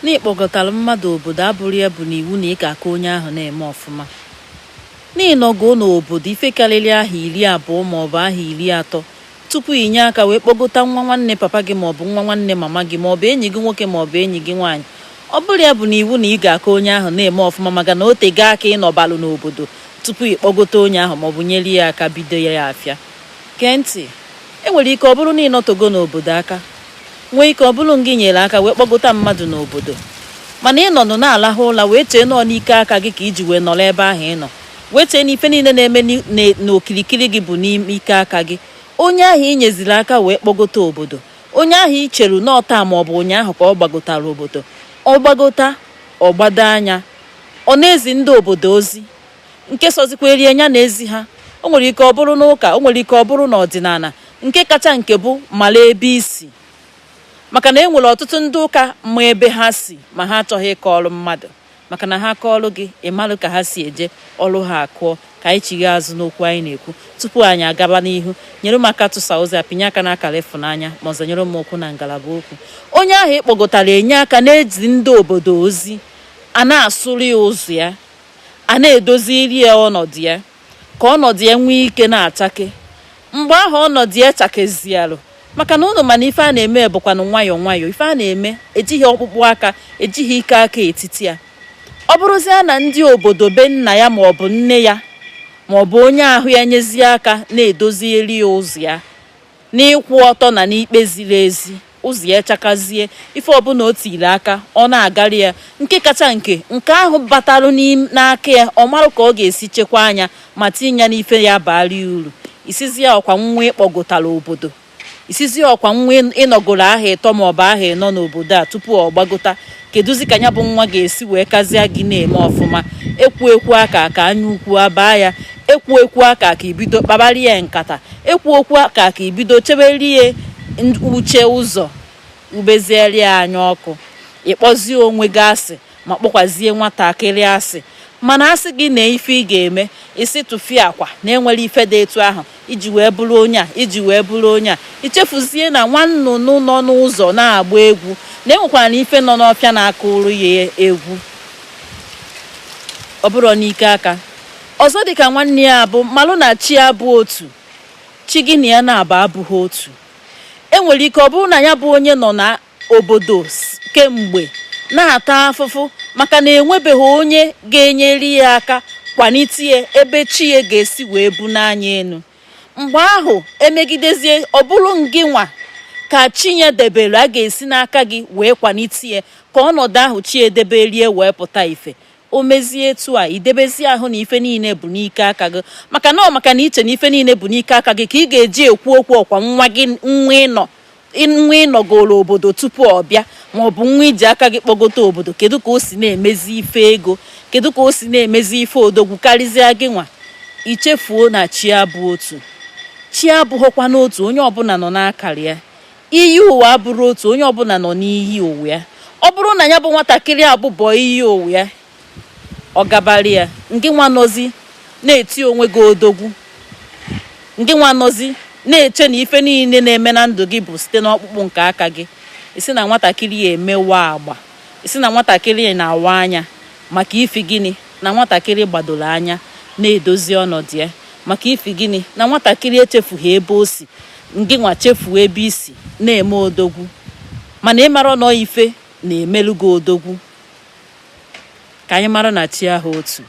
Na ị kpọgotara mmadụ obodo abụrọ ya bụ na iwu na ị ga-aka onye ahụ na-eme ọfụma. Na ị nọgoo n'obodo ife karịrị ahọ iri abụọ maọbụ ahọ iri atọ tupu i nye aka wee kpọgota nwa nwanne papa gị maọbụ nwa nwanne mama gị maọbụ enyi gị nwoke maọbụ enyi gị nwaanyị. Ọ bụrọ ya bụ na iwu na ị ga-aka onye ahụ na-eme ọfụma maka na o tego aka ị nọbalụ n'obodo tupu ị kpọgota onye ahụ maọbụ nyere ya aka bido ya afịa. Gee ntị, e nwere ike ọ bụrụ na ị nọtogo n'obodo aka nwee ike ọ bụrụ ngị nyere aka wee kpọgota mmadụ n'obodo mana ị nọnụ na-alahụ ụla wee chee na ọ n'ike aka gị ka i ji wee nọrọ ebe ahụ ị nọ wee chee na ife niile na-eme n'okirikiri gị bụ n'ime ike aka gị onye ahụ ị nyeziri aka wee kpọgota obodo onye ahụ ị cheru na ọ taa ma ọ bụ ụnyaahụ ka ọ gbagotara obodo ọ gbagota ọ gbado anya ọ na-ezi ndị obodo ozi nke sọzikwara ya nya na-ezi ha o nwere ike ọ bụrụ n'ụka o nwere ike ọ bụrụ n'ọdịnala nke kacha nke bụ mara ebe i si maka na e nwere ọtụtụ ndị ụka ma ebe ha si ma ha achọghị ịkọrọ mmadụ maka na ha kọọlụ gị ị malụ ka ha si eje ọrụ ha akụọ ka anyị chigha azụ n'okwu anyị na-ekwu tupu anyị agaba n'ihu nyere m aka tụsa ozi a pịnye aka n'akara ịfụnanya ma ọzọ nyere m okwu na ngalaba okwu onye ahụ ị kpọgotara enye aka na-ezi ndị obodo ozi a na-asụrụ ya ụzọ ya a na-edoziri ya ọnọdụ ya ka ọnọdụ ya nwee ike na-achake mgbe ahụ ọnọdụ ya chakezialụ maka na ụnụ ma na ife a na-eme bụkwanụ nwayọọ nwayọọ ife a na-eme ejighị ọkpụkpụ aka ejighị ike aka etiti ya ọ bụrụzie na ndị obodo be nna ya ma ọ bụ nne ya ma ọ bụ onye ahụ ya nyezie aka na-edozieri ya ụzọ ya n'ịkwụ ọtọ na n'ikpe ziri ezi ụzọ ya chakazie ife ọbụla o tiri aka ọ na-agara ya nke kacha nke nke ahụ batalụ n'aka ya ọ marụ ka ọ ga-esi chekwaa nya ma tinye ya n'ife ya baara ya uru ị sịzie ọkwa nwa ị kpọgotara obodo ị sịzie ọkwa nwa ị nọgoro ahọ ịtọ maọbụ ahọ ịnọ n'obodo a tupu ọ gbagota kedụzi ka ya bụ nwa ga-esi wee kazịa gị na-eme ọfụma ekwu ekwu aka ka anya ukwu abaa ya ekwu ekwu aka ka i bido kpabara ya nkata ekwu ekwu aka ka i bido chebere ya uche ụzọ ubeziere ya anya ọkụ ị kpọzie onwe gị asị ma kpọkwazie nwatakịrị asị mana asị gị na ife ị ga-eme ị sị tụfiakwa na enwere ife dị etu ahụ iji wee bụrụ onye a iji wee bụrụ onye a i chefuzie na nwa nnụnụ nọ n'ụzọ na-agba egwu na enwekwaranụ ife nọ n'ọfịa na-akụrụ ya egwu ọ bụrọ n'ike aka ọzọ dịka nwanne ya bụ malụ na chi abụ otu chi gị na ya na-abụ abụghị otu enwere ike ọ bụrụ na ya bụ onye nọ na obodo kemgbe na-ata afụfụ maka na enwebeghị onye ga-enyere ya aka kwanite ya ebe chi ya ga-esi wee bunie ya enu mgbe ahụ emegidezie ọ bụrụ ngị nwa ka chi ya debere a ga-esi n'aka gị wee kwanite ya ka ọnọdụ ahụ chi ya debere ya wee pụta ife o mezie etu a idebezi ahụ na ife niile bụ n'ike aka gị maka na ọ maka na iche na ife niile bụ n'ike aka gị ka ị ga-eji ekwu okwu ọkwa nwa gị nwa ịnọ nwa ịnọgoro obodo tupu ọ bịa ma ọ bụ nwa iji aka gị kpọgote obodo kedu ka o si na-emezi ife ego kedu ka o si na-emezi ife odogwu karịzịa gị nwa ichefuo na chi abụ otu chi abụghịkwanụ otu onye ọbụla nọ n'akara ya iyi ụwa abụrọ otu onye ọbụla nọ n'iyi ụwa ya ọ bụrụ na ya bụ nwatakịrị abụbọ iyi ụwa ya ọ gabara ya ngị nwa nọzi na-eti onwe gị odogwu ngị nwa nọzi na-eche na ife niile na-eme na ndụ gị bụ site n'ọkpụkpụ nke aka gị ị sị na nwatakịrị a emewa agba ị sị na nwatakịrị a na-awa anya maka ifi gịnị na nwatakịrị gbadoro anya na-edozi ọnọdụ ya maka ifi gịnị na nwatakịrị echefughị ebe o si ngị nwa chefuo ebe i si na-eme odogwu mana ị mara na ife na-emelu gị odogwu ka anyị mara na chi abụ otu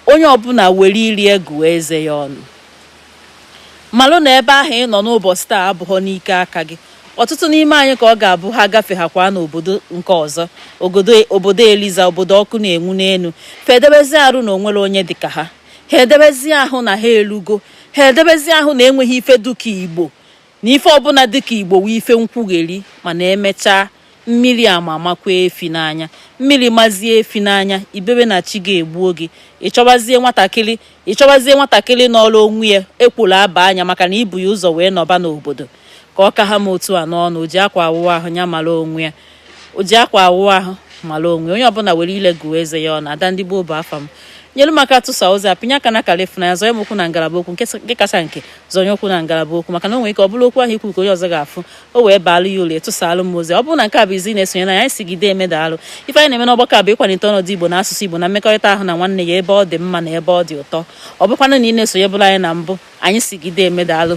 onye ọbụla were ire gụọ eze ya ọnụ malụ na ebe ahụ ị nọ n'ụbọchị taa abụghọ n'ike aka gị ọtụtụ n'ime anyị ka ọ ga-abụ ha gafe ha kwa n'obodo nke ọzọ obodo eliza obodo ọkụ na-enwu n'elu fa edebezi arụ na o nwerọ onye dịka ha ha edebezi ahụ na ha elugo ha edebezi ahụ na enweghị ife dịka igbo na ife ọbụla dịka igbo wụ ife nkwugheri mana emechaa mmiri ama amakwa efi n'anya mmiri mazie efi n'anya i bebe na chi gị egbuo gị ịchọbazie nwatakịrị ịchọbazie nwatakịrị nọrọ onwe ya ekworo aba anya maka na i bu ya ụzọ wee nọba n'obodo ka ọ ka ha m otu a n'ọnụ o ji akwa awụwa ahụ ya mara onwe ya o ji akwa awụ ahụ mara onwe onye ọbụla were ile gụọ eze ya ọnụ ada ndị gboo bụ afa m nyelu m aka tụsaa ozi a pịnye aka na akara ịfụnanya zọnye m okwu na ngalaba okwu nke kacha nke zọnye okwu na ngalaba okwu maka na o nwere ike ọ bụrụ okwu ahụ i kwu ka onye ọzọ ga-afụ o wee baalụ ya ulu tụsaalụ m ozi ọ bụrụ na nke a bụ izizi ị na-esonyelu anyị anyị sị gị deeme daalụ ife anyị na-eme n'ọgbakọ a bụ ịkwalite ọnọdụ igbo na asụsụ igbo na mmekọrịta ahụ na nwanne ya ebe ọ dị mma na ebe ọ dị ụtọ ọ bụkwanụ na ị na-esonyebulu anyị na mbụ anyị sị gị deeme daalụ